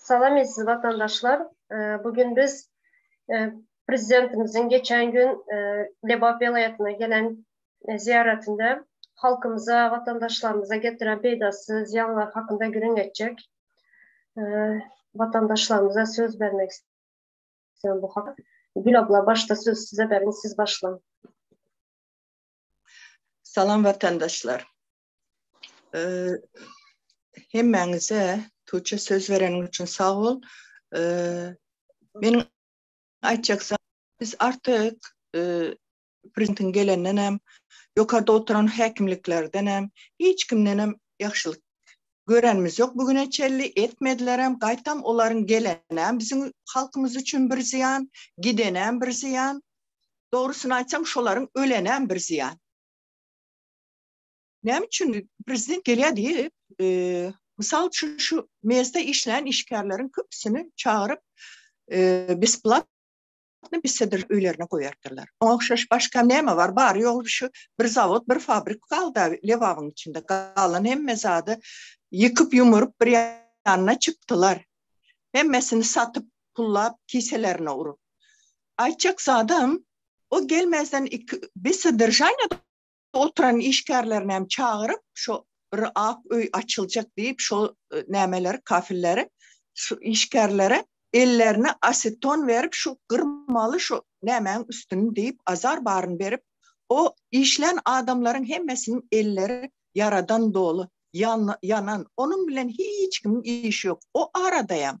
Salam eziz watandaşlar. Bu gün biz prezidentimiziň geçen gün Lebap welaýatyna gelen zyýaratynda halkymyza, watandaşlarymyza getiren peýdasy zyýanlar hakynda gürrüň etjek. Watandaşlarymyza söz bermek isleýän bu hak. Gül abla başda söz size beriň, siz başlaň. Salam watandaşlar. Hemmäňize Tuçe söz bereniň üçin sag bol. Meniň aýtjaksa biz artyk prezidentiň gelenden hem ýokarda oturan häkimliklerden hem hiç kimden hem ýagşylyk görenimiz ýok bu güne çelli etmediler hem gaýtam olaryň gelenem biziň halkymyz üçin bir zyýan gidenem bir zyýan Dogrusyny aýtsaň, şolaryň ölenem bir zyýan. Näme üçin prezident gelýär diýip, mysal üçin şu MEZ-de işleýän işgärleriň köpüsini çagyryp, besplatny bisidir öýlerine goýardyrlar. Oňa ogşaş başga näme bar? Bary-ýogy şu bir zawod, bir fabrik galdy-a Lebabyň içinde. Galan hemme zady ýykyp-ýumuryp bir ýanyna çykdylar. Hemmesini satyp, pullap, kiselerine urup. Aýtjak zadym, o gelmäzden iki biz sodržanýada oturan işgärlerinem çagyryp, şo bir ak öý açyljak diýip, şo nämeleri, kafilleri, şu işgärlere ellerine aseton berip, şu gyrmaly şo nämäň üstüni diýip, azar baryny berip, o işlän adamlaryň hemmesiniň elleri ýaradan doly, ýanan, onuň bilen hiç kimiň işi ýok. O aradaýam.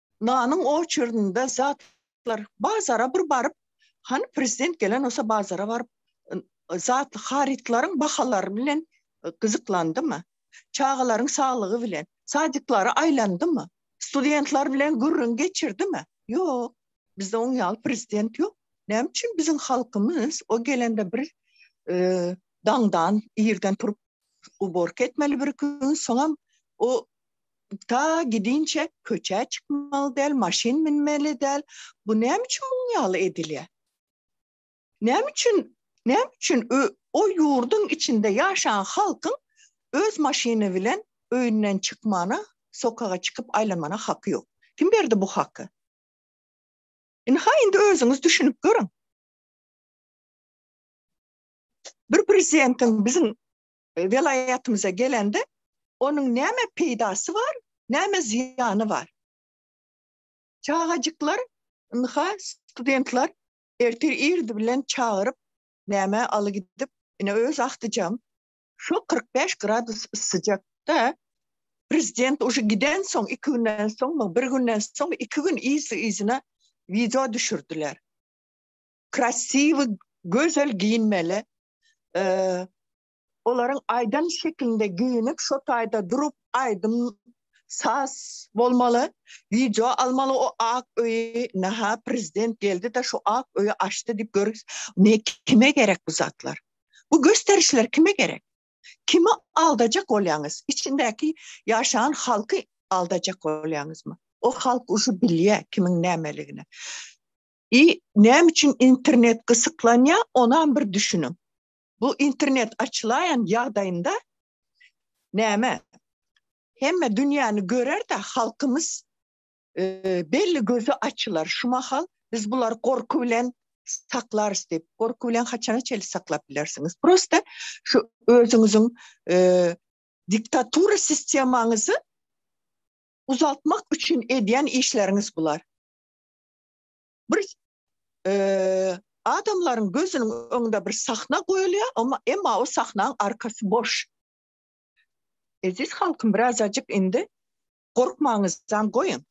Nanyň oçerdinde zatlar bazara bir baryp, hany prezident gelen bolsa bazara baryp, zat harytlaryň bahalary bilen gyzyklandymy? Çagalaryň saglygy bilen, sadiklara aýlandymy? Studentler bilen gürrüň geçirdimi? Ýok. Bizde oň ýaly prezident ýok. Näme üçin biziň halkymyz o gelende bir daňdan, irden turup uborka etmeli bir gün, soňam o ta gidinçe köçä çykmaly däl, maşyn münmeli däl. Bu näme üçin muň ýaly edilýär? Näme üçin, näme üçin o ýurduň içinde ýaşan halkyň öz maşyny bilen öýünden çykmana, sokaga çykyp aýlanmana haky ýok? Kim berdi bu haky? Indi ha indi özüňiz düşünip görüň. Bir prezidentiň biziň welaýatymyza gelende, onuň näme peýdasy bar, näme zyýany bar? Çagajyklar, ynha, studentler ertir irdi bilen çagyryp, nämä aly gidip, ine, öz agtyjam, şo kyrk bäş gradus yssyjakda, prezident uje gidensoň, iki günden soňmy, bir günden soňmy, iki gün yzly-yzyna wideo düşürdiler. Krasiwy, gözel giyinmeli, olaryň aýdan şekilinde geýinip şo taýda durup aýdym saz bolmaly wideo almaly o ak öýi naha prezident geldi de şu ak öýi açdy diýip gör ne kime gerek bu zatlar bu gösterişler kime gerek kimi aldajak bolýaňyz içindäki ýaşan halky aldajak bolýaňyzmy o halk uşu bilýä kimiň nämeligini I näme üçin internet gysyklanýar, onam bir düşüniň. Bu internet açylaýan ýagdaýynda näme? Hemme dünýäni görer-de, halkymyz belli gözi açylar. Şu mahal biz bulary gorky bilen saklarys diýip, gorky bilen haçana çenli saklap bilersiňiz? Prosta şu özüňiziň diktatura sistemaňyzy uzaltmak üçin edýän işleriňiz bular. bir adamlaryň gözüniň öňünde bir sahna goýulýar, emma emma o sahnanyň arkasy boş. Eziz halkym, biraz ajyk indi gorkmaňyzdan goýun.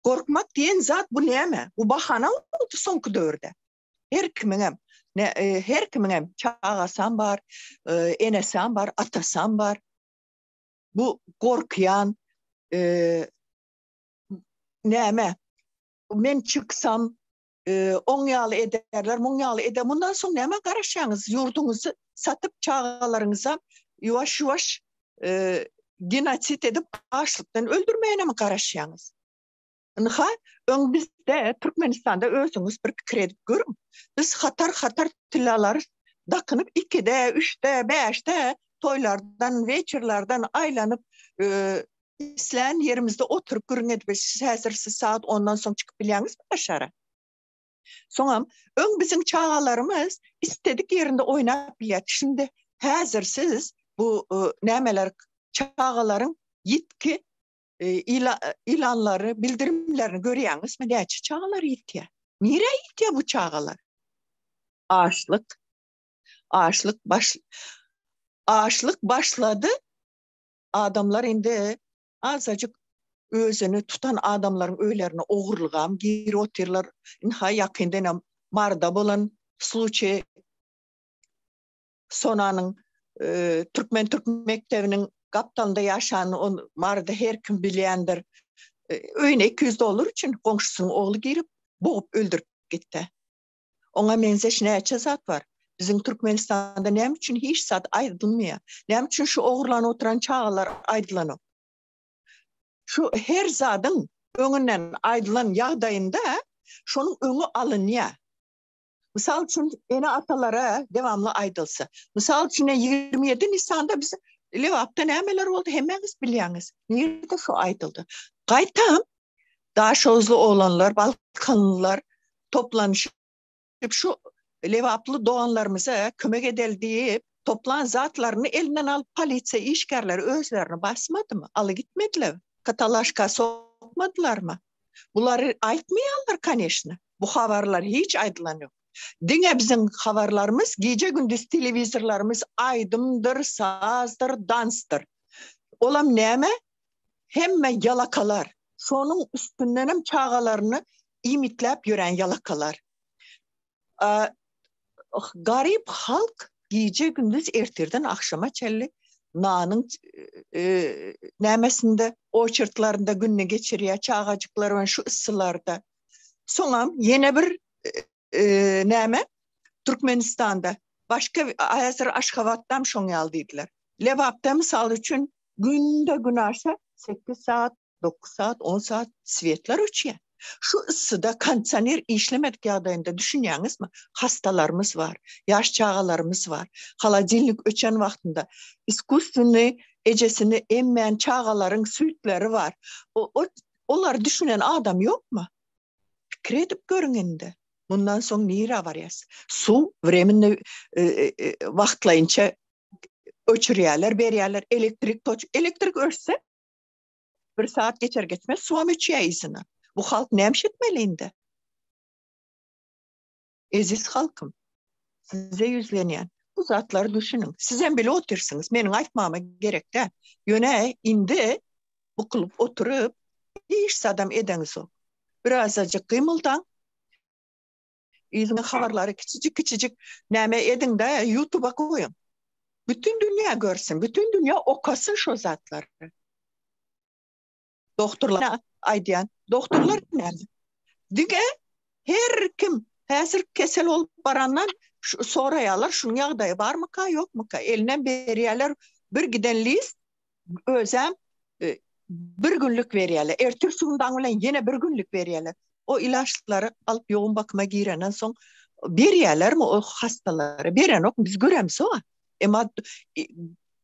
Gorkmak diýen zat bu näme? Bu bahana boldy soňky döwürde. Her kimiň hem ne e, her kimiň hem çagasam bar, e, enesem bar, atasam bar. Bu gorkýan, e, näme men çyksam e, on ýaly ederler muň ýaly ede mundan soň näme garaşýaňyz ýurduňyzy satyp çagalaryňyza ýuwaş ýuwaş e, genosid edip açlykdan öldürmäne mi garaşýaňyz Ynha, öň bizde Türkmenistanda özüňiz bir pikir edip görüň. Biz hatar-hatar tillalary dakynyp 2-de, 3-de, 5-de toýlardan, weçerlerden aýlanyp, e, islän ýerimizde oturyp gürrüň edip bilşiris. Häzir siz sagat ondan soň çykyp bilýäňizmi daşara? Soňam öň biziň çagalarymyz istedik ýerinde oýnap bilýärdi. Şindi häzir siz bu e, nämeler çagalaryň ýitki e, ilanlary, bildirimlerini görýäňizmi? Näçe çagalar ýitýär? Nirä ýitýär bu çagalar? Açlyk. Açlyk baş Açlyk başlady. Adamlar indi azajyk özüni tutan adamlaryň öýlerine ogurlygam girip otyrlar. Ynha ýakyndan hem Maryda bolan sluçe Sonanyň türkmen türk mekdebiniň gapdalynda ýaşan ol Maryda her kim bilýändir. Öýüne 200 dollar üçin goňşusynyň ogly girip bogup öldürip gitdi. Oňa menzeş näçe zat bar. Biziň Türkmenistanda näme üçin hiç zat aýdylmaýar? Näme üçin şu ogurlanyp oturan çagalar aýdylanok? Şu her zadyň öňünden aýdylan ýagdaýynda şonuň öňi alynýar. Mysal üçin ene-atalara dewamly aýdylsa. Mysal üçin ýigrimi ýedi nisanda biz Lebapda nämeler boldy hemmäňiz bilýäňiz. Nirede şu aýdyldy. Gaýtam Daşoguzly oglanlar, balkanlylar toplanyşyp şu lebaply doganlarymyza kömek edeli diýip, toplan zatlaryny elinden alyp polisiýa işgärleri özlerini basmadymy? Aly gitmediler. Katalaşka sokmadylarmy? Bulary aýtmaýarlar kaneşna. Bu habarlar hiç aýdylan ýok. Diňe biziň habarlarymyz gije-gündiz telewizorlarymyz aýdymdyr, sazdyr, dansdyr. Olam näme? hemme ýalakalar, şonuň üstündenem çagalaryny iýmitläp ýören ýalakalar. Garyp halk gije-gündiz ertirden agşama çenli nanyň nämesinde, oçertlarynda gününi geçirýär, çagajyklar şu yssylarda. Soňam ýene bir Näme? Türkmenistanda başga häzir Aşgabatdam şoň ýaly diýdiler. Lebapda mysal üçin günde gün aşa sekiz saat, dokuz saat, on saat sweetler öçýär. Şu yssyda kondisioner işlemedik ýagdaýynda düşünýäňizmi? Hastalarymyz bar, ýaş çagalarymyz bar. Holodilnik öçen wagtynda iskusstweniý ejesini emmän çagalaryň süýtleri bar. Olar düşünen adam ýokmy? Pikir edip görüň indi. Mundan soň nira barýas? Su vremenni e, e, e, wagtlaýynça öçürýärler, berýärler elektrik toç. Elektrik öçse bir saat geçer geçmez suwam öçýär Bu halk näme etmeli indi? Eziz halkym, size ýüzlenýän. Bu zatlary düşüniň. Siz hem bile otyrsyňyz. Meniň aýtmama gerek däl. Ýöne indi bukulyp oturyp, hiç zadam edeňizok. Birazajyk gymyldaň. Yzyňyz habarlary kiçijik-kiçijik näme ediň-de, YouTube-a goýuň. Bütün dünýä görsün, bütün dünýä okasyn şo zatlary. Doktorlara aýdýan. Doktorlar näme? Diňe her kim häzir kesel bolup barandan soraýarlar, şunuň ýagdaýy barmyka, ýokmyka? Eline berýärler bir giden list, özem e, bir günlük berýärler. Ertir sundan bilen ýene bir günlük berýärler. O ilaçlary alyp ýogun bakyma girenden soň berýärlermi o hastalara? Berenok, biz göremsoň. Emma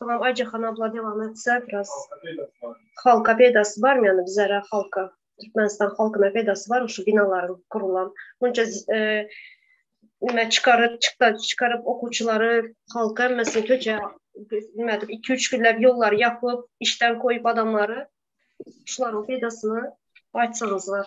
Salam Aýjahan abla dewam etse biraz halka peydasy barmy ýani bizara halka Türkmenistan halkyna peydasy barmy şu binalaryň gurulan munça nime çykaryp çykda çykaryp okuwçylary halka hemmesini töje nime edip iki üç günläp ýollary ýapyp işden goýup adamlary şularyň peýdasyny aýtsaňyzlar.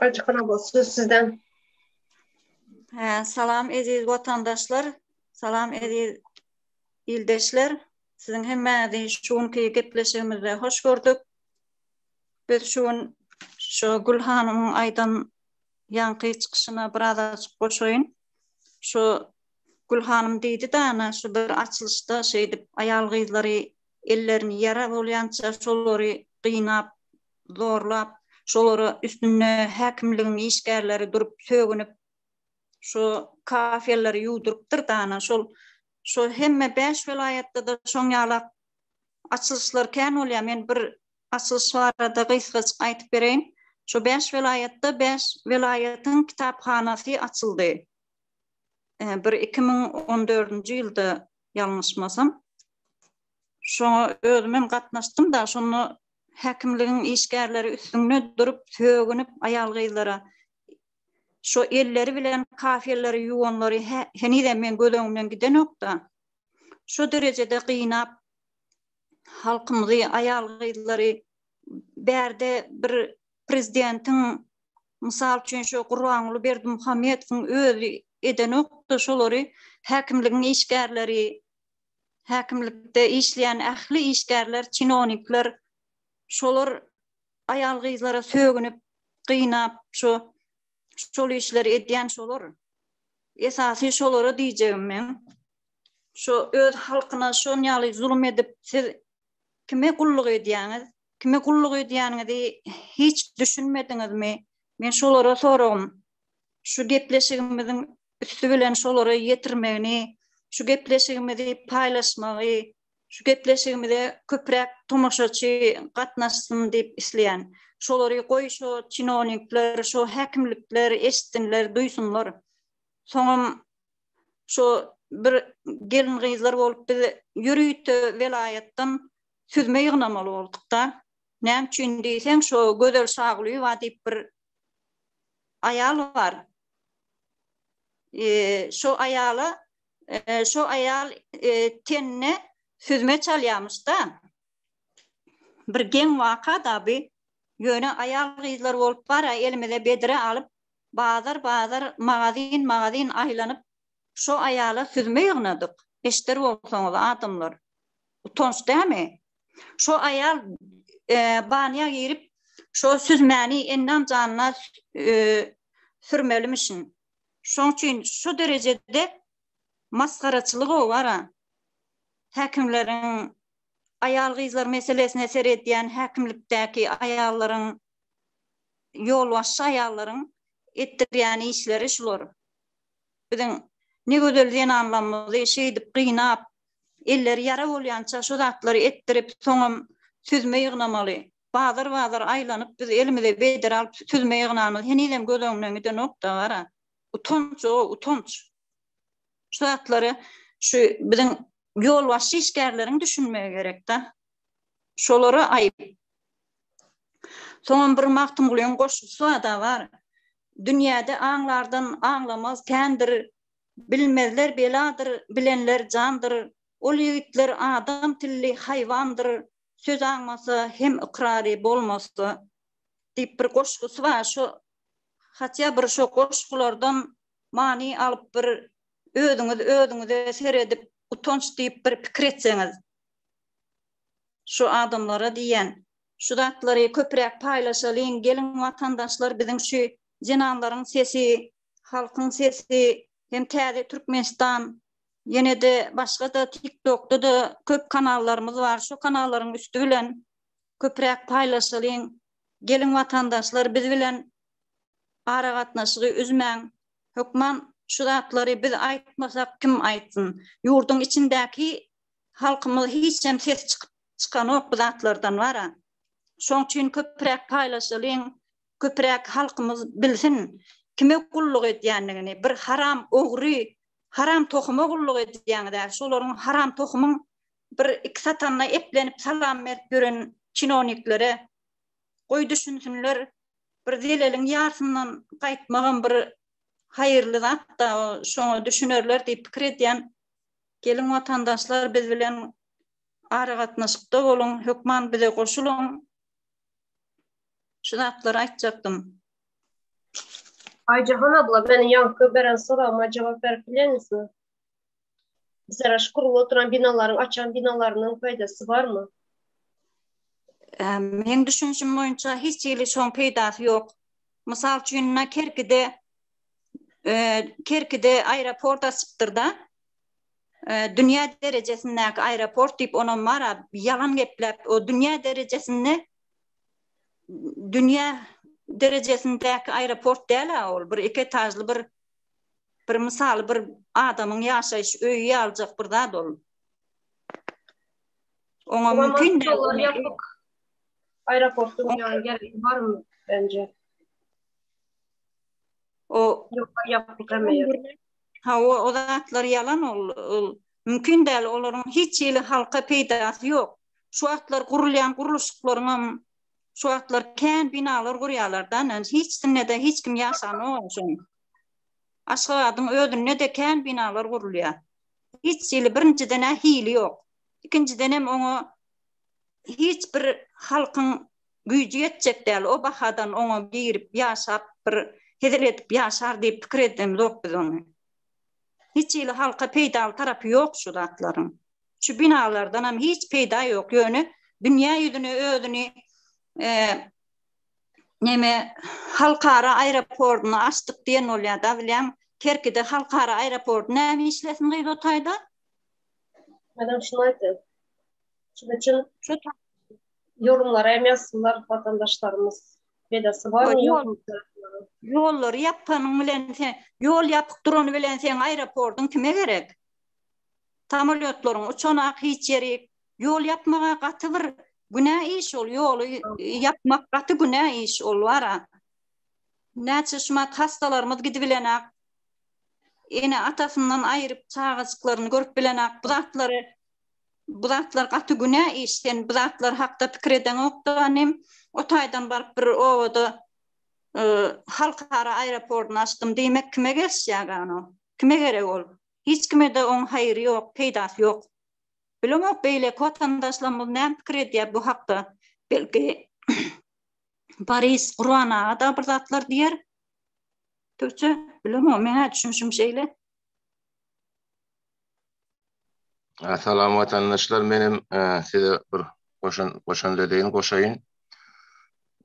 Açykra bol, söz sizden. Hä, salam eziz watandaşlar, salam eziz ildeşler. Siziň hemmäňizi şu günki gepleşigimizde hoş gördük. Biz şu gün şu Gül hanymyň aýdan ýaňky çykyşyna biraz açyk goşaýyn. Şu Gül hanym diýdi dana şu bir açylyşda şeýdip aýal gyzlary ellerini ýara bolýança şolary gynap zorlap, şolara üstünde häkimligiň işgärleri durup sögünip, şu kafelleri ýuwdurypdyr dana, şol şu hemme bäş welaýatda-da şoň ýalak açylyşlar kän bolýar. Men bir açylyş barada gysgajyk aýdyp bereýin. Şu bäş welaýatda bäş welaýatyň kitaphanasy açyldy. Bir iki müň on dördünji ýylda ýalňyşmasam. Şoňa özüm hem gatnaşdym-da, şonda häkimligiň işgärleri üstünde durup sögünip aýal-gyzlara şu elleri bilen kafelleri ýuwanlary henizem men göz öňümden gidenokda. Şu derejede gynap halkymyzy aýal-gyzlary bärde bir prezidentiň mysal üçin şu Gurbanguly Berdimuhamedowyň özi edenokda şolary häkimligiň işgärleri häkimlikde işleýän ähli işgärler, çinownikler şolar aýal-gyzlara sögünip, gynap şu şol işleri edýän şolar. Esasy şolara diýjegim meň. Şu öz halkyna şonýaly zulum edip, siz kime gulluk edýäňiz? Kime gulluk edýäniňizi hiç düşünmediňizmi? Men şolara soragym. Şu gepleşigimiziň üsti bilen şolary ýetirmegini, şu gepleşigimizi paýlaşmagy, şu gepleşigimize köpräk tomaşaçy gatnaşsyn diýip isleýän. Şolary goý şo çinonikler, şo häkimlikler eşitsinler, duýsunlar. Soňam şo bir gelin-gyzlar bolup biz ýörite welaýatdan süzme ýygnamaly bolduk-da. Näme üçin diýseň, şo Gözel Şagulyýewa diýip bir aýal bar. Şo aýala şo aýal tenine süzme çalýamyş-da. Bir geň waka-da bi. Ýöne aýal-gyzlar bolup bar-a elimize bedre alyp, bazar-bazar, magazin-magazin aýlanyp, şo aýala süzme ýygnadyk. Eşder bolsaňyz adamlar. Utanç dämi? Şo aýal e, banyýa girip, şo süzmäni endan janyna e, sürmelimişin. Şoň üçin şu derejede masgaraçylyk owara. Häkimleriň aýal gyzlar meselesine seredýän häkimlikdäki aýallaryň ýolbaşçy aýallaryň etdirýän işleri şular. Biziň ne gözel zenanlarymyzy şeýdip gynap, elleri ýara bolýança şu zatlary etdirip, soňam süzme ýygnamaly. Bazar-bazar aýlanyp, biz elimize bedre alyp süzme ýygnanymyz henizem göz öňünden gidenok-da, gara. Utanç-o, utanç. Şu zatlara şu biziň ýolbaşçy işgärleriň düşünmegi gerek-da. Şolara aýyp. Soňam bir Magtymgulyň goşgusy-da bar. Dünýäde aňlardan aňlamaz kändir, Bilmezler beladyr, bilenler jandyr, Ol ýigitler adam tilli haýwandyr, Söz aňmasa hem ykrary bolmasa diýip bir goşgusy bar. Şo hatýa bir şo goşgulardan many alyp bir özüňiz özüňize seredip utanç diýip bir pikir etseňiz. Şu adamlara diýýän. Şu zatlary köpräk paýlaşalyň geliň watandaşlar biziň şu zenanlaryň sesi Halkyň sesi hem täze Türkmenistan ýene-de başga-da TikTokda-da köp kanallarymyz bar. Şu kanallaryň üsti bilen köpräk paýlaşylyň. Geliň watandaşlar biz bilen aragatnaşygy üzmäň. Hökman şu zatlary biz aýtmasak kim aýtsyn. Ýurduň içindäki halkymyz hiç hem ses çykanok bu zatlardan wara. Şoň üçin köpräk paýlaşylyň. köpüräk halkymyz bilsin kime gulluk edýändigini bir haram ogry haram tohuma gulluk edýäňizä şolaryň haram tohumyň bir iki satanyna eplenip salam berip ýören çinowniklere goý düşünsinler bir zeleliň ýarsyndan gaýtmagam bir haýyrly zatda şoňa düşünerler diýip pikir edýän geliň watandaşlar biz bilen aragatnaşykda boluň hökman bize goşulyň Şu zatlary aýtjakdym. Aýjahan abla, meniň ýaňky beren soragyma jogap berip bilermisňiz? Bizara şu gurlup oturan binalaryň açan binalarynyň peýdasy barmy? Meň düşünişim boýunça hiç hili şoň peýdasy ýok. Mysal üçin, na Kerkide Kerkide aeroport açypdyr-da. Dünýä derejesindäki aeroport diýip onam bar-a, ýalan gepläp, o dünýä derejesinde dünýä derejesindäki aeroport däl-ä ol, bir iki etažly bir bir mysaly bir adamyň ýaşaýyş öýi ýaljak bir zat ol. Oňa mümkin däl. Aeroportyň ýany gerek barmy bence? O ýapyk hem. Ha o zatlar ýalan ol. Mümkin däl, olaryň hiç hili halka peýdasy ýok. Şu wagtlar gurulýan gurluşyklaryňam şu wagtlar kän binalar gurýarlar-da, ynanç, hiç sinde-de hiç kim ýaşanok oňşon. Aşgabadyň özünde-de kän binalar gurulýar. Hiç hili, birinjiden-ä hili ýok. Ikinjidenem oňa hiç bir halkyň güýji ýetjek däl, o bahadan oňa girip ýaşap, bir hezil edip ýaşar diýip pikir edemzok biz ony. Hiç hili halka peýdaly tarapy ýok şu zatlaryň. Şu binalardanam hiç peýda ýok. Ýöne dünýä ýüzüne özüni neme halkara aeroportyny açdyk diýen bolýar da bilýän Kerkide halkara aeroporty näme işlesin gyz o taýda? Adam şunu aýtdy. Şunuň üçin şu ýolumlara hem ýazsynlar watandaşlarymyz. Pedasy bar mı yok mu? Ýollary ýapanyň bilen sen ýol ýapyk durany bilen sen aeroportyň kime gerek? Samolýotlaryň uçanak hiç ýeri ýol ýapmaga gaty bir günä iş ol ýoly ýapmak gaty günä iş ol wara. Näçe şumat hastalarymyz gidip bilenak. Ene atasyndan aýryp çagajyklaryny görüp bilenak. Bu zatlary bu zatlar gaty günä iş sen bu zatlar hakda pikir edeňokda anym o taýdan baryp bir obada e, halkara aeroportyny açdym diýmek kime gelişýär ano kime gerek ol hiç kime de oň haýry ýok peýdasy ýok bilemok beýle watandaşlarymyz näme pikir edýär bu hakda belki Paris Gurban aga da bir zatlar diýer Türkçe bilemok meňä düşünşim şeýle Salam watandaşlar, menem size bir goşan goşan dedeýin goşaýyn.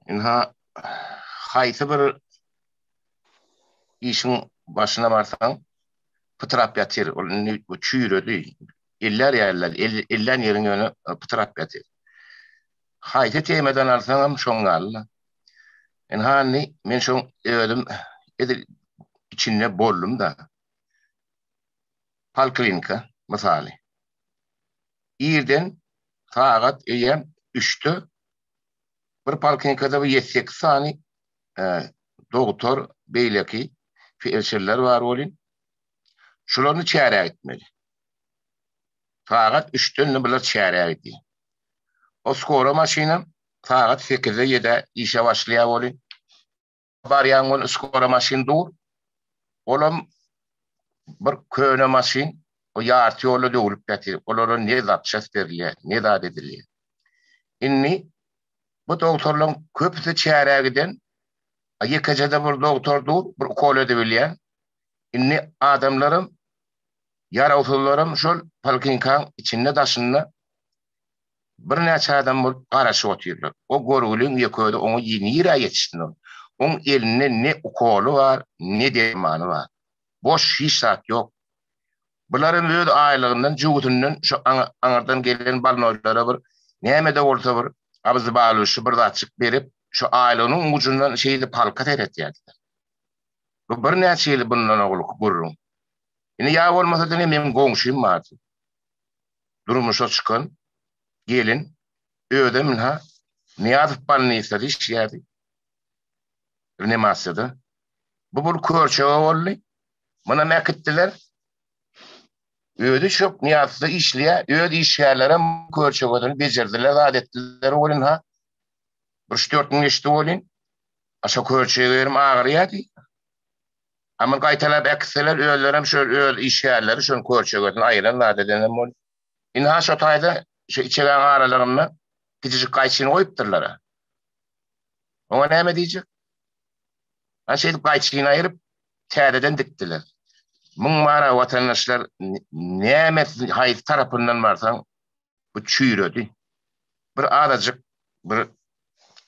Inha haýsy bir işiň başyna barsaň, pytrap ýatyr. Ol indi bu çüýredi. Ellär ýaly, ellän ýeriň ýöne pytrap ýatyr. Haýsy temadan alsaňam şoň ýaly. Inha indi men şoň özüm edil içinde boldum-da. poliklinika mysaly. Irden sagat eýýäm üçde bir poliklinikada bir ýedi sekiz sany dogtor, beýleki felçerler bar welin, şularyny çärä gitmeli. Sagat üçden bular çärä gidýär. O skora maşynam sagat sekizde-ýedä işe başlaýar welin, Barýan gün üç gora maşyn dur. Olam bir köne maşyn. O ýarty ýolda döwlüp ýatyr. Olara ne zapçast berilýär, ne zat edilýär. Indi bu dogtorlaryň köpüsi çärä giden. Ýekeje-de bir dogtor dur, bir ukol edibilýän. Indi adamlaram, ýarawsyzlaram şol polklinikaň içinde-daşynda Birnäçe adam bolup garaşyp otyrlar. O görgüliň ýeközi oňa nirä ýetişsin ol? Oň elinde ne ukoly bar, ne dermany bar. Boş hiç zat ýok. Bularam öz aýlygyndan, jübüsinden şu aňyrdan gelen balnoýlara bir näme-de bolsa bir abyzbalyşy bir zatjyk berip, şu aýlygynyň ujundan şeýdip halka seretýärdiler. Bu birnäçe ýyl bundan owalky gürrüň. Indi ýa bolmasa diňe meniň goňşym bardy. durmuşa çykan gelin özem ynha Nyýazow bolnisada işleýärdi. Rnimasiýada. Bu bir körçege boldy. Munam äkitdiler. Özi şok Nyýazowda işleýär. Öz işgärlerem körçegeden bejerdiler, zat etdiler bolin ha. Bir üç-dört gün geçdi bolin. Aşa körçege berim agyrýardy. A muny gaýtalap äkitseler, özlerem şol öz işgärleri şonuň körçegesini aýyran zat edenem bolup. Ynha şo taýda şo içegaň aralygynda kiçijik gaýçyny goýupdyrlar-a. Oňa näme diýjek? Ana şeýdip gaýçyny aýryp, täzeden dikdiler. Muň many watandaşlar näme haýsy tarapyndan barsaň bu çüýredi. Bir azajyk bir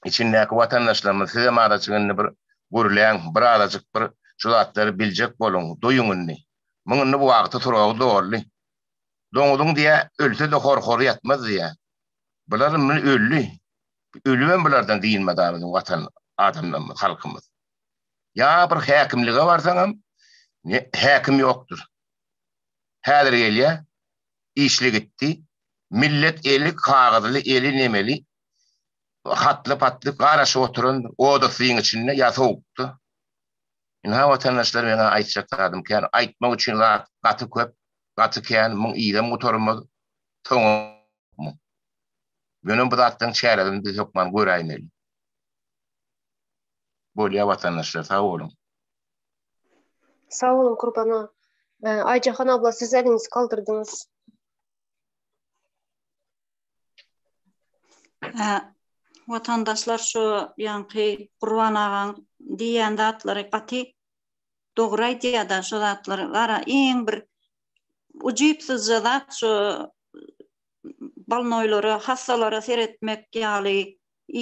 içindäki watandaşlarymyz sizem azajyk indi bir gürläň, bir azajyk bir şu zatlary biljek boluň, duýuň indi. Muň indi bu wagty suragy doldy. Doňuzyň diýä ölse-de horhory ýatmaz diýä. Bular indi öldi. Ölübem bulardan dynmada biziň watan adamlarymyz, halkymyz. Ýa bir häkimlige barsaňam häkim ýokdur. Häzir gelýä işli gitdi. Millet eli kagyzly, eli nemeli, hatly-patly garaşyp oturandyr, oda syýyň içinde ýa sowukda. Ynha, watandaşlar, meň-ä aýtjak zadym kän. Aýtmak üçin zat gaty köp, gaty kän, muň yzam gutarmaz, soňam. Ýöne bu zatlaryň çäresini biz hökman göräýmeli. Bolýar, watandaşlar, sag boluň! Sag boluň Kurbana. Aýjahan abla siz eliňizi galdyrdyňyz. Watandaşlar şu ýanky Gurban agaň diýen zatlary gaty dogry aýdýada şu zatlary gara iň bir ujypsyzja zat şu balnoýlara hassalara seretmek ýaly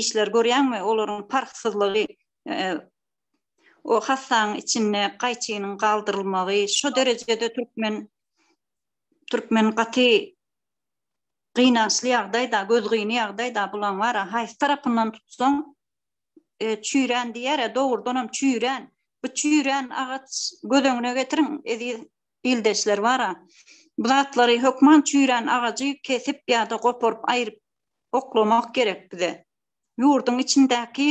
işler görýäňmi olaryň parhsyzlygy o hassanyň içinde gaýçynyň galdyrylmagy şu derejede türkmen türkmen gaty gynançly ýagdaýda, gözgyny ýagdaýda bulaň bara haýsy tarapyndan tutsaň e, çüýrän diýär, dogrudan hem çüýrän. Bu çüýrän agaç göz öňüne getiriň, eziz ildeşler bara. Bu zatlary hökman çüýrän agajy kesip ýa-da goparyp aýryp oklamak gerek bize. Ýurduň içindäki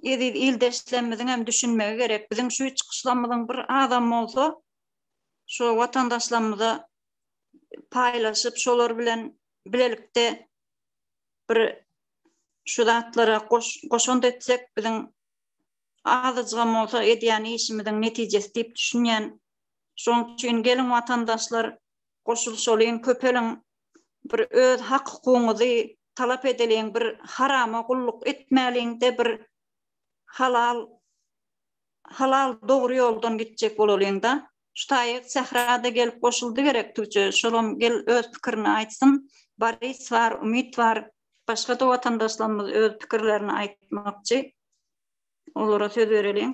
eziz ildeşlerimiziň hem düşünmegi gerek. Biziň şu çykyşlarymyzyň bir azam bolsa şu watandaşlarymyza paýlaşyp, şolar bilen bilelikde bir şu zatlara goşant etsek, biziň azajygam bolsa edýän işimiziň netijesi diýip düşünýän. Şoň üçin geliň watandaşlar, goşulyşalyň, köpeliň, bir öz hak-hukugyňyzy talap edeliň bir harama gulluk etmäliň de bir halal halal dogry ýoldan gitjek bolalyň da şu taýyk sährada gelip goşuldy gerek tüwje şolam gel öz pikirini aýtsyn baris bar umyt bar başga da watandaşlarymyz öz pikirlerini aýtmakçy olara söz bereliň.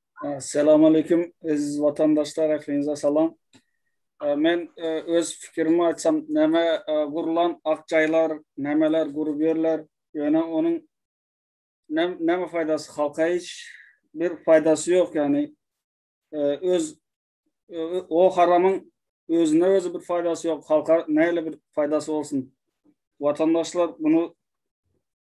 Salam aleýkum eziz watandaşlar ähliňize salam. Men öz pikirimi aýtsam näme gurlan ak jaýlar nämeler gurup ýörler ýöne onuň näme faýdasy halka hiç bir faýdasy ýok ýani öz o haramyň özüne özi bir faýdasy ýok halka näle bir faýdasy bolsun. Watandaşlar bunu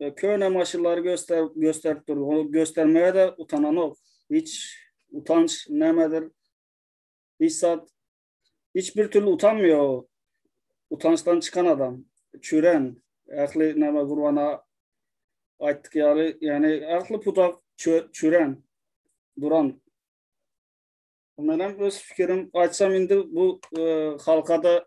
E, köne maşynlary göster gösterip durdy. Ony göstermäge de utananok. Hiç utanç nämedir? Hiç zat hiç bir türlü utanmıyor. Utançdan çıkan adam. Çüren. Ähli näme gurbana aýtdyk ýaly, ýani ähli pudak çüren duran. Menem öz fikirim aýtsam indi bu e, halkada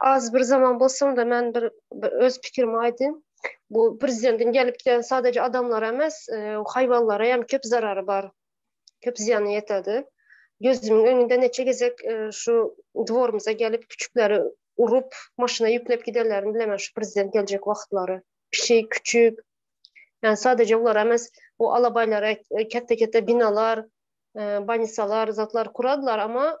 Az bir zaman bolsun da men bir öz pikirimi aýdym. Bu prezidentiň gelip giden sadece adamlara emes, e, haýwanlara hem köp zarary bar. Köp zyýany ýetedi. Gözümiň öňünde neçe gezek e, şu dworymyza gelip küçükleri urup, maşyna ýüklep gidenlerini bilemen şu prezident geljek wagtlary. Pişik, küçük. Yani sadece olar emes, o alabaylara e, kette-kette binalar, e, banisalar, zatlar kuradylar ama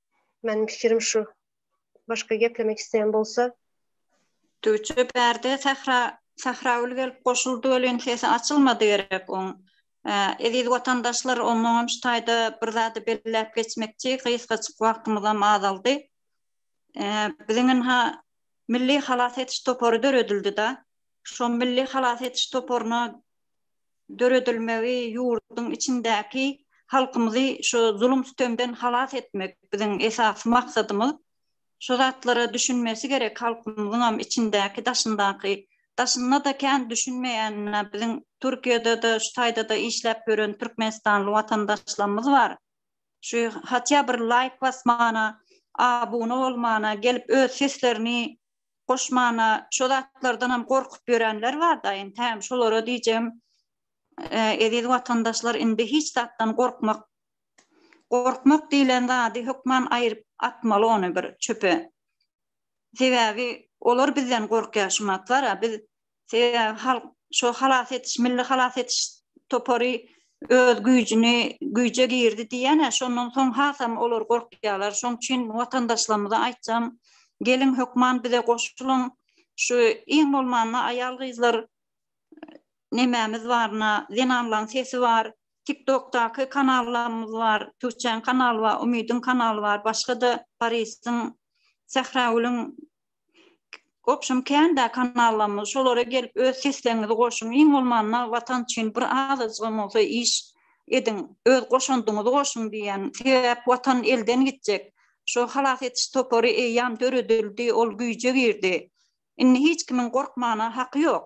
Meniň pikirim şu. Başga geplemek isleýän bolsa? Düwçe bärde Sähra Sähragül gelip goşuldy welin sesi açylmady gerek oň. Eziz watandaşlar omoňam şu taýda bir zady belläp geçmekçi gysgajyk wagtymyzam azaldy. Biziň ynha Milli halas ediş topary döredildi-da. Şo Milli halas ediş toparyna döredilmegi ýurduň içindäki halkymyzy şu zulum-sütemden halas etmek biziň esasy maksadymyz. Şu zatlara düşünmesi gerek halkymyzyňam içindäki daşyndaky. Daşynda-da kän düşünmeýänine biziň Türkiýede-de şu taýda-da işläp ýören türkmenistanly watandaşlarymyz bar. Şu hatýa bir laýk basmana, abuna bolmana gelip öz seslerini goşmana şo zatlardanam gorkup ýörenler bar da ente şolara diýjem eziz watandaşlar indi hiç zatdan gorkmak gorkmak diýlen zady hökman aýryp atmaly ony bir çöpe sebäbi olar bizden gorkýar şu matlara biz Sebäbi halk şo halas etiş, milli halas etiş topary öz güýjüni güýje girdi diýýän-ä, şondan soň hasam olar gorkýarlar. Şoň üçin watandaşlarymyza aýtjam, geliň hökman bize goşulyň. Şu iň bolmanda aýal-gyzlar nemämiz bar, na, zenanlaryň sesi bar, TikTok-daky kanallarymyz bar, Tüwçäň kanaly bar, Umydyň kanaly bar, başga-da Parisyň, Sähragülüň Obşem kände kanallarymyz şolara gelip öz sesleriňizi goşuň iň bolmanda watan üçin bir azajygam bolsa iş ediň öz goşandyňyzy goşuň diýýän sebäp watan elden gitjek şo halas etiş topary eýýam döredildi ol güýje girdi indi hiç kimiň gorkmana haky ýok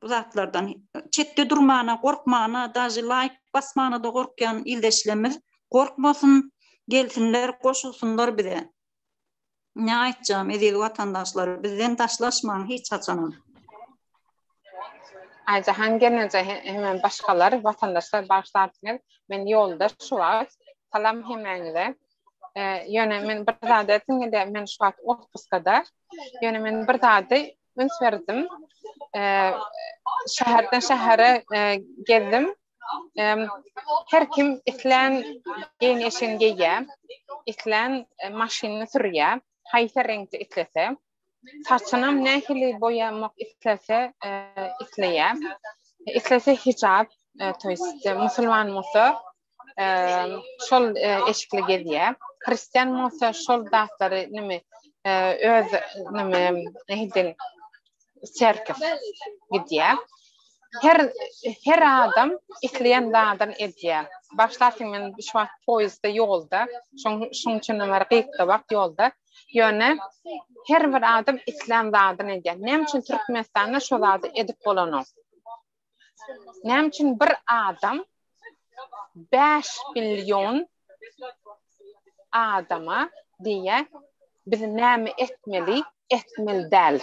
bu zatlardan çetde durmana gorkmana daže laýk basmana-da gorkýan ildeşlerimiz gorkmasyn gelsinler goşulsynlar bize. Ne aýtjam eziz watandaşlar bizden daşlaşmaň hiç haçanam. Aýjahan gelneje hemem başgalar watandaşlar bagyşlarsyňyz men ýoldaş şu wagt salam hemäňize ýöne men bir zat etdim indi men şu wagt otpuskada ýöne men bir zady üns berdim şäherden şähere gezdim Her kim islän geýnişini geýýär, islän maşynyny sürýär, haýsy reňkde islese. Saçynam nähili boýamak islese, isleýär. Islese hijap, to ýest musulman bolsa, şol eşikli gezýär. Hristian bolsa şol zatlary neme öz neme nähili serkif gidýär. Her her adam isleýän zadyny edýär. Başlarsyň men şu wagt poýizde ýolda, şoň şoň üçin bir gysga wagt ýolda. Ýöne her bir adam islän zadyny edýär. Näme üçin Türkmenistanda şu zady edip bolanok? Näme üçin bir adam 5 million adama diýe biz näme etmeli, etmeli däl.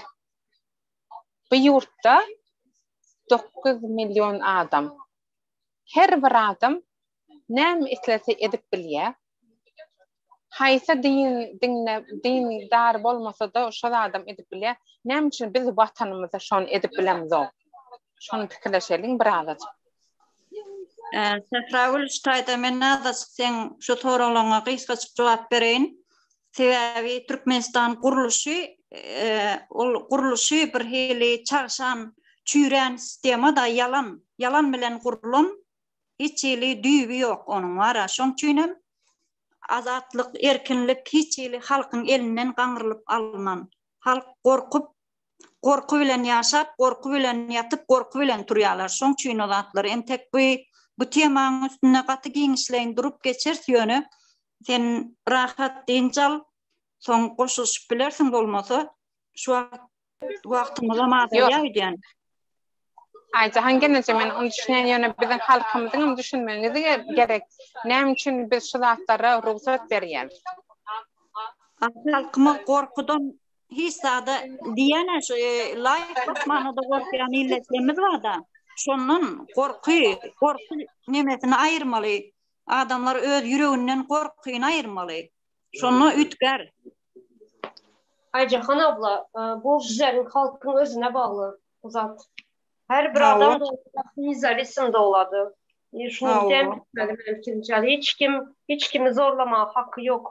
Bu ýurtda 9 million adam. Her bir adam näme islese edip bilýär. Haýsy din diňde din dar bolmasada şo zadam edip bilýär. Näme üçin biz watanymyzda şony edip bilemizok? Şony pikirleşeliň bir azajyk. Sähragül şu taýda men azajyk seň şu soraglaryňa gysgajyk jogap bereýin. Sebäbi Türkmenistan gurluşy ol gurluşy bir hili çagşan çüýrän sistema da ýalan ýalan bilen gurlan Hiç hili düýbi ýok onuň wara. Şoň üçinem azatlyk, erkinlik hiç hili halkyň elinden gaňrylyp alnan. Halk gorkup, gorky bilen ýaşap, gorky bilen ýatyp, gorky bilen turýarlar. Şoň üçin o zatlar. Entek bu bu temaň üstünde gaty giňişleýin durup geçeris ýöne sen rahat dynç al, soň goşulyşyp bilersiň bolmasa şu wagt Wagtymyzam azalýar öýdýän. Aýjahan gelneje men ony düşünýän ýöne biziň halkymyzyň hem düşünmegi gerek. Näme üçin biz şu zatlara rugsat berýäris? Aslynda halkymyz gorkudan hiç zada diýýän-ä şu laýk basmana-da gorkýan milletlerimiz bar-da. Şondan gorky, gorky nemesini aýyrmaly. Adamlar öz ýüreginden gorkyny aýyrmaly. Şonda üýtgär. Aýjahan abla, e, bu bizleriň halkyň özüne bagly bu zat. Her bir Hawa. adam özüni izolisin dowlady. E, Şuny Hawa. hem bilmeli mümkin. Ýa hiç kim, hiç kimi zorlamaga haky ýok.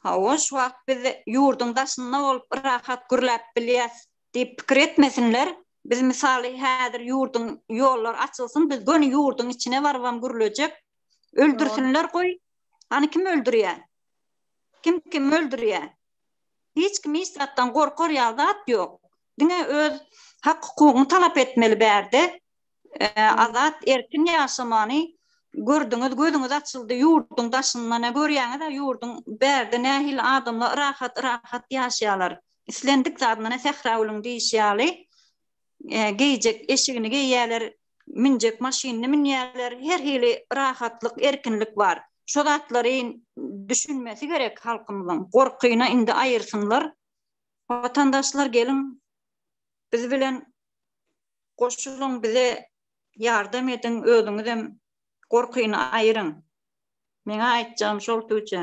Hawa, şu wagt biz ýurduň daşynda bolup rahat gürläp bilýäs diýip pikir etmesinler. Biz mysaly häzir ýurduň ýollar açylsyn, biz göni ýurduň içine barybam gürlejek. Öldürsinler goý. Hany kim öldürýär? Kim kimi öldürýä? Hiç kim hiç zatdan gorkar ýaly zat ýok. Diňe öz hak hukugyňy talap etmeli bärde. Azat erkin ýaşamany gördüňiz gözüňiz açyldy ýurduň daşynda ne görýäňiza ýurduň bärde nähili adamlar rahat yrahat ýaşaýalar. Islendik zadyna ne sähra gülüň diýişi ýaly geýjek eşigini geýýäler münjek maşynyny münýärler, her hili rahatlyk, erkinlik bar. Şo zatlary düşünmesi gerek halkymyzyň. Gorkyny indi aýyrsynlar. Watandaşlar geliň, biz bilen goşulyň, bize ýardam ediň, özüňizem gorkyny aýyryň. Meň aýtjagym şol tüwje.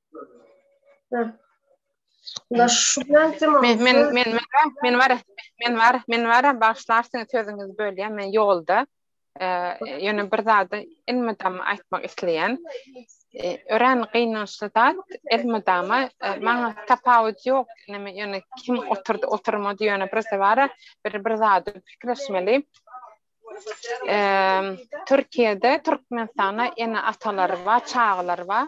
Men men men men var men var men var başlarsyn sözüňiz bölýä men ýolda ýöne bir zady ilmidam aýtmak isleýän örän gynançly zat ilmidama maňa tapawut ýok näme ýöne kim oturdy oturmady ýöne bir sebara bir bir zady pikirleşmeli Türkiýede Türkmenistana ene atalar bar çagalar bar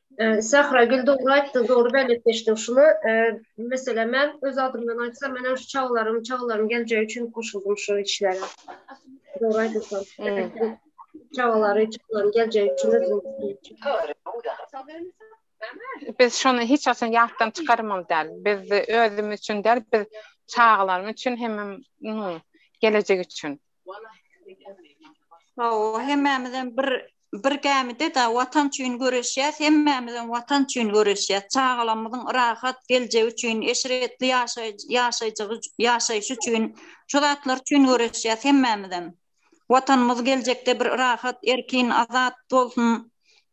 Sahra gül dogry aýtdyň, dogry bellik geçdiň. Şuny, meselem, men öz adymdan aýtsam, men şu çagalarym, çagalarym geljegi üçin goşuldym şu işlere. Dogry aýdypsyň. Çagalary, çagalarym geljegi üçin özüm. Biz şuny hiç haçan ýatdan çykarmaly däl. Biz özümiz üçin däl, biz çagalarymyz üçin hemem gelejek üçin. Hawa, hemmämizem bir bir gämide da watan üçin göreşýäs, hemmämizem watan üçin göreşýäs. Çagalarymyzyň rahat geljegi üçin, eşretli ýaşaýjy ýaşaýjygy ýaşaýşy üçin, şu zatlar üçin göreşýäs hemmämizem. Watanymyz geljekde bir rahat, erkin, azat bolsun.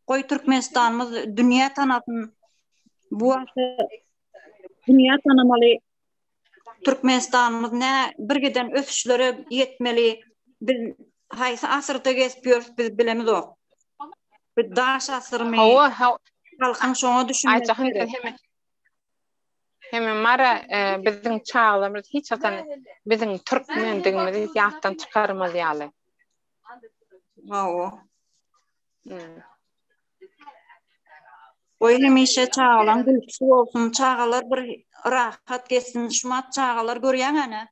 Goý, Türkmenistanymyz dünýä tanasyn. Bu wagta dünýä tanamaly. Türkmenistanymyz nä birgiden ösüşlere ýetmeli, biz haýsy asyrda gezip ýörüs biz bilemizok. Bu daş asyrmy? Hawa, hawa. Halkyň şoňa düşünmesi gerek. Hemen mara e, biziň çaglarymyz hiç haçan biziň türkmendigimizi ýatdan çykarmaz ýaly. Hawa. Goý hemişe çagalaň gülküsi bolsun çagalar bir rahat gezsin şumat çagalar görýäňäne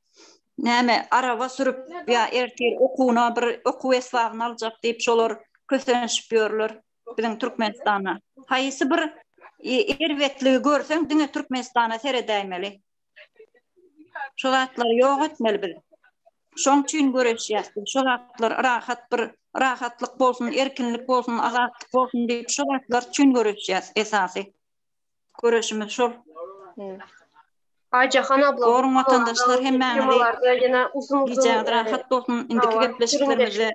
näme araba sürüp ýa ertir okuwyna bir okuw esbabyny aljak diýip şolar kösenişip ýörler biziň türkmenistana haýsy bir erbetligi görseň diňe türkmenistana seredäýmeli. Şu zatlary ýok etmeli biz. Şoň üçin göreşýäs. Şu zatlar rahat bir rahatlyk bolsun, erkinlik bolsun, azatlyk bolsun diýip şu zatlar üçin göreşýäs esasy. Göreşimiz şol. Aýjahan abla, Goruň watandaşlar hemmäňizi. Gijäňiz rahat bolsun, indiki gepleşiklerimizde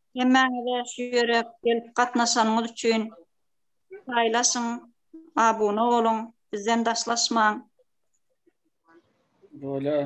Hemmäňize şu ýere gelip gatnaşanyňyz üçin paýlaşyň, abuna boluň, bizden daşlaşmaň. Bolýar.